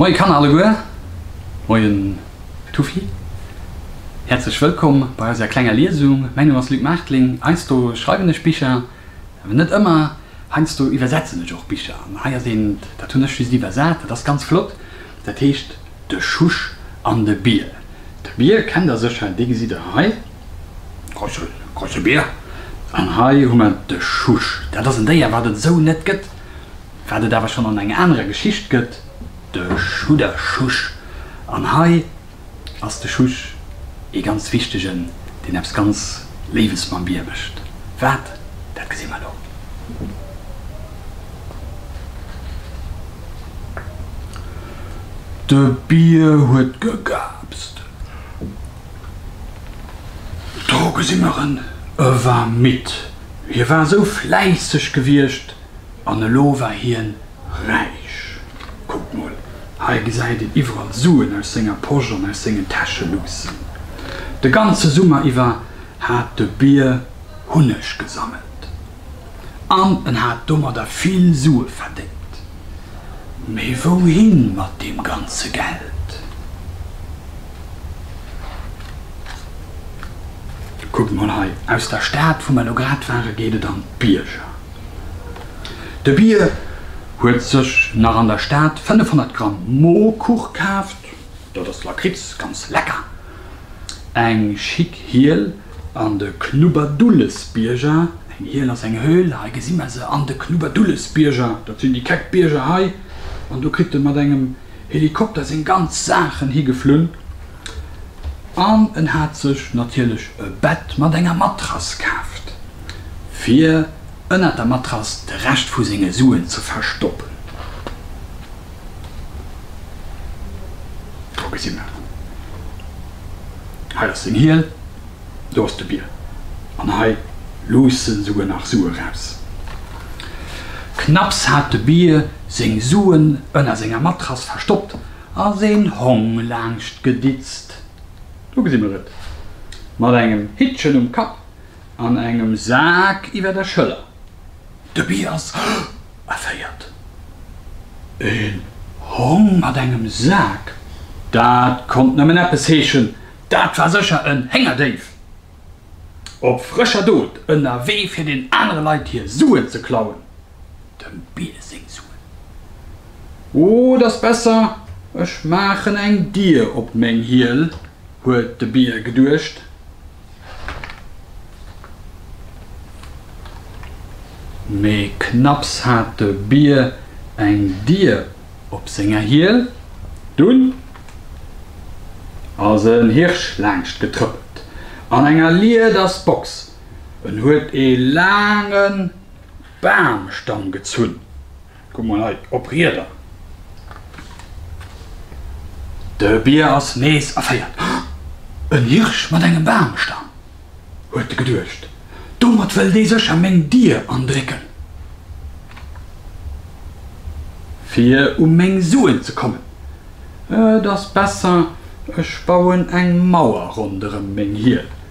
Moien Kanner alleguer, moien Tufi, häerzlech wëllkomm bei eiser klenger Liesung. Mäin Numm ass Luc Maartling, heiansdo schreiwen ech Bicher, awer net ëmmer, heiansdo iwwersetzen ech och Bicher an hei ass eent, dat hunn ech just iwwersat, dat ass ganz flott, dat heescht De Schusch an de Bier. De Bier kennt der sécher, dee gesitt der hei. Krochelbeer. An hei hu mer de Schusch. Dat ass en Déier, wat et esou net gëtt, wat et awer schonn an enger anerer Geschicht gëtt, de Schudderschusch. An hei ass de Schusch ee ganz wichtegen, deen eppes ganz Léiwes mam Bier mécht. Wat, dat gesi mer elo. De Bier huet gegaapst. Droge si mer en ëwer midd. Hie war esou fläisseg gewiescht an elo war hien räich. Kuckt mol, hei gesäit een iwwerall Suen aus senger Posch an aus sengen Täsche luussen. De ganze Summer iwwer hat de Bier Hunneg gesammelt. an en hat domadder vill Sue verdéngt. Mee wouhin mat deem ganze Geld? Kuckt mol hei, aus der Stad, wou mer elo grad waren, geet et an d'Bierger. De Bier huet sech nach an der Stad 500 Gramm Mohrkuch kaaft, dat ass Lakritz, ganz lecker, eng schick Hiel, An de Knubberdullesbierger, eng Hiel ass eng Höhl, hei gesi mer se, an de Knubberdullesbierger, dat sinn déi keck Bierger hei, an do kritt e mat engem Helikopter seng ganz Saachen higeflunn an en hat sech natierlech e Bett mat enger Matrass kaaft, fir ënnert der Matrass de Rescht vu senge Suen ze verstoppen. Do gesi mer en. Hei ass den Hiel, do ass de Bier. An hei luussen souguer nach Sue raus. Knapps hat de Bier seng Suen ënner senger Matrass verstoppt, ass een Hong laanscht geditzt. Do gesi mer et, mat engem Hittchen um Kapp an engem Sak iwwer der Schëller. De Bi ass erféiert. Een Hong mat engem Sak, dat konnt nëmmen eppes heeschen, dat war sécher en Héngerdéif, op frëscher Dot, ënnerwee fir den anere Leit hir Suen ze klauen, dem Bi seng Suen. Oh, et ass besser, ech maachen eng Dier op meng Hiel, huet de Bi geduecht. Mee knapps hat de Bier eng Dier op senger Hiel, dunn ass en Hirsch laangscht getrëppelt an enger Liedersbox. En huet ee laange Bamstamm gezunn. Kuck mol hei, op Rieder! De Bier ass nees erféiert. En Hirsch mat engem Bamstamm! huet e geduecht. Domat wëll dee sécher meng Dier andrécken, fir u meng Suen ze kommen. Et ass besser, ech bauen eng Mauer ronderëm meng Hiel.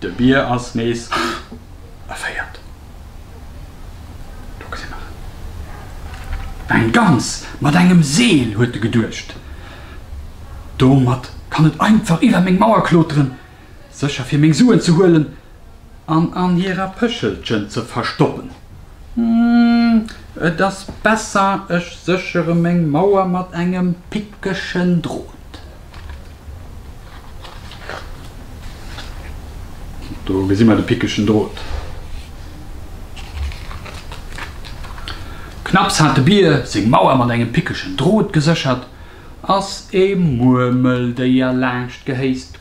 De Bier ass nees erféiert. Do gëtt hien nach eng Gans mat engem Seel, huet e geduecht. Domat kann et einfach iwwer meng Mauer kloteren, sécher fir meng Suen ze huelen an an hirer Pëschelchen ze verstoppen. Hm, et ass besser, ech séchere meng Mauer mat engem pickeschen Drot. Do gesi mer de pickegen Drot. Knapps hat de Bier seng Mauer mat engem pickegen Drot geséchert, ass e Muermeldéier laanscht gehéist,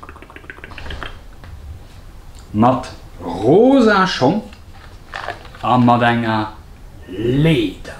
mat rosa Schong a mat enger Leeder.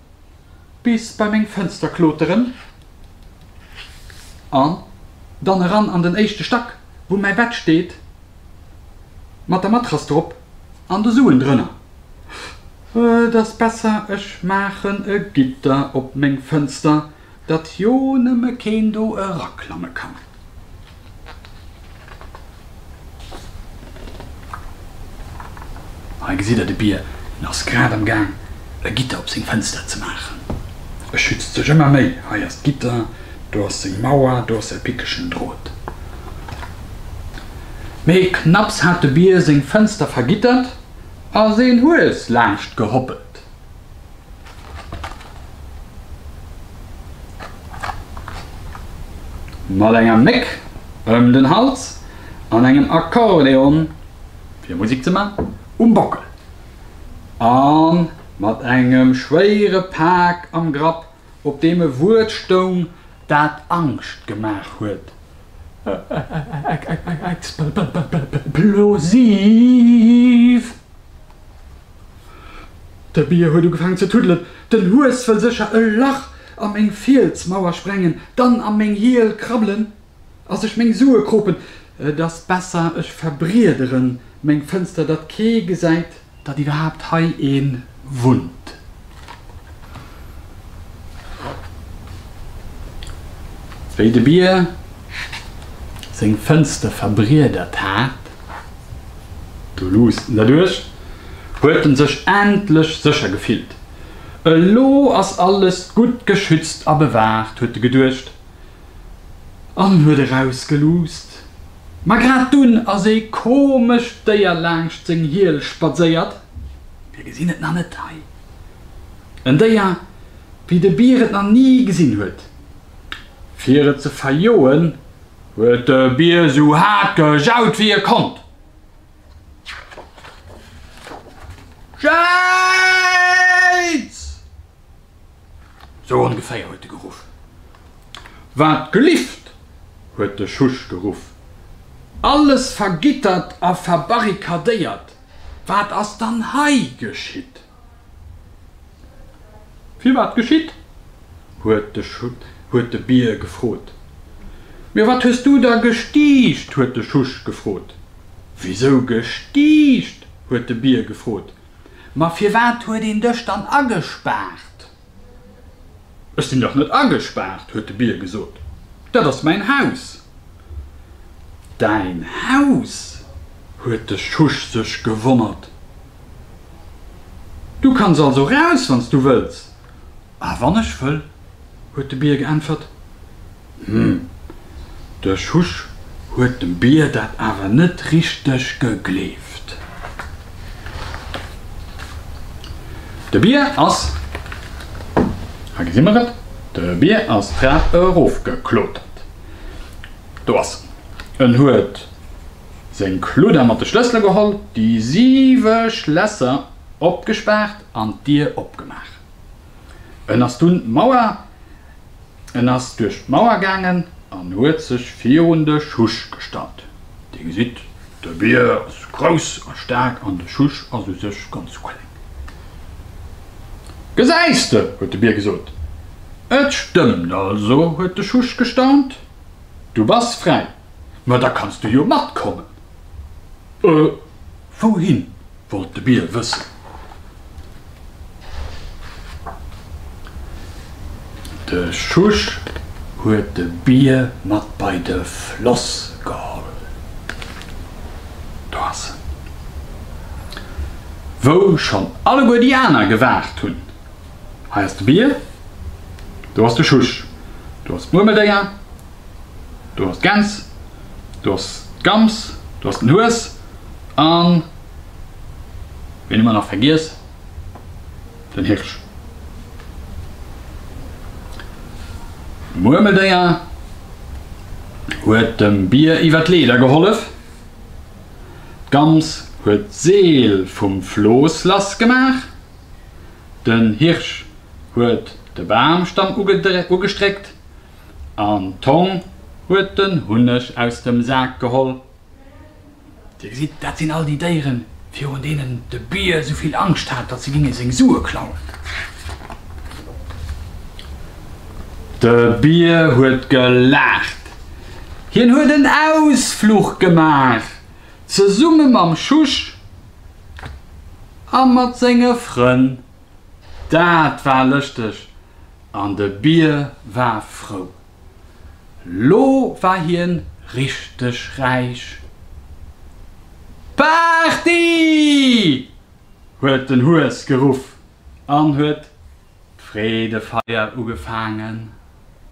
Bis bei meng Fënster kloteren an dann eran an den éischte Stack, wou mäi Bett steet, mat der Matrass drop an de Suen drënner. Et ass besser, ech maachen e Gitter op meng Fënster. Datt jo nëmme keen do eraklamme kann. Hei gesitt der de Bier, en ass grad am Gaang e Gitter op seng Fënster ze maachen. E schützt sech ëmmer méi, hei ass d'Gitter, do ass seng Mauer, do ass säi pickegen Drot. Mee knapps hat de Bier seng Fënster vergittert, ass een Hues laanscht gehoppelt. Mat enger Méck ëm den Hals an engem Akkordeon, fir Musik ze man, um Bockel a mat engem schwéiere Pak am Grapp op deem e Wuert stoung, dat Angscht gemaach huet, explosiv! De Bier huet ugefaangen ze tuddelen, Den Hues wëll sécher e Lach a meng Fielsmauer sprengen, dann a meng Hiel krabbelen. As ech meng Sue kropen? Et as besser ech verbriederen meng Fënster, datt kee gesäit, datt iwwerhaapt hei ee wunnt. Wéi de Bier seng Fënster verbriedert hat, do luusst en derduerch, huet en sech endlech sécher gefillt. Elo as alles gutt geschützt a bewaacht, huet e geduecht. an huet erausgeluusst. Ma grad dunn ass ee komescht Déier laangscht seng Hiel spadséiert, mir gesinn et nach net hei, en Déier, wéi de Bier et nach ni gesinn huet. Fir et ze verjoen, huet de Bier sou haart gejaut, wéi e konnt. Jaiiiits! Sou ongeféier huet e geruff. Wat gelift! huet de Schusch geruff. Alles vergittert a verbarrikadéiert, wat ass dann hei geschitt? Firwat geschitt? huet de Bier gefrot. Mir, wat hues du da gestiicht? huet de Schusch gefrot. Wisou gestiicht? huet de Bier gefrot. Ma firwat huet een dech dann agespaart? Ech sinn dach net agespaart, huet de Bier gesot. Dat ass mäin Haus. Däin Haus? huet de Schusch sech gewonnert. Du kanns also raus, wann s du wëlls. A wann ech wëll? huet de Bier geäntwert. Hm, de Schusch huet dem Bier dat awer net richteg gegleeft. De Bier ass, hei gesi mer et, de Bier ass d'Trap erofgeklotert. Do ass en, huet seng Kludder mat de Schlëssele geholl, déi siwe Schlässer opgespaart an d'Dier opgemaach. En ass dunn d'Mauer, en ass duerch d'Mauer gaangen an huet sech virun de Schusch gestallt. Dir gesitt, de Bier ass grouss a staark an de Schusch ass u sech ganz kleng. Gesäis de, huet de Bier gesot, et stëmmt also, huet de Schusch gestaunt, du bass fräi, ma da kanns du jo matkommen. Wouhin? Wollt de Bier wëssen. De Schusch huet de Bier mat bei de Floss geholl. Do ass en. Wou schonn alleguer déi aner gewaart hunn. Hei ass de Bier. Do ass de Schusch. Do ass d'Muermeldéier. Du has d'Gäns, du has d'Gams, du has den Hues an, ween hu mer nach vergiess, den Hirsch. D'Muermeldéier huet dem Bier iwwer d'Leeder gehollef, d'Gams huet d'Seel vum Flooss lass gemaach, den Hirsch huet de Bamstamm ugestréckt, An d'Tong huet den Hunneg aus dem Sak geholl. Dir gesitt, dat sinn all déi Déieren, virun deenen de Bier sou vill Angscht hat, datt se géinge seng Sue klauen. De Bier huet gelaacht. Hien huet en Ausfluch gemaach, zesumme mam Schusch a mat senge Frënn. Dat war lëschteg an de Bier war frou. Lo war hien richteg räich. Party! huet den Hues geruff an huet d'Freedefeier ugefaangen.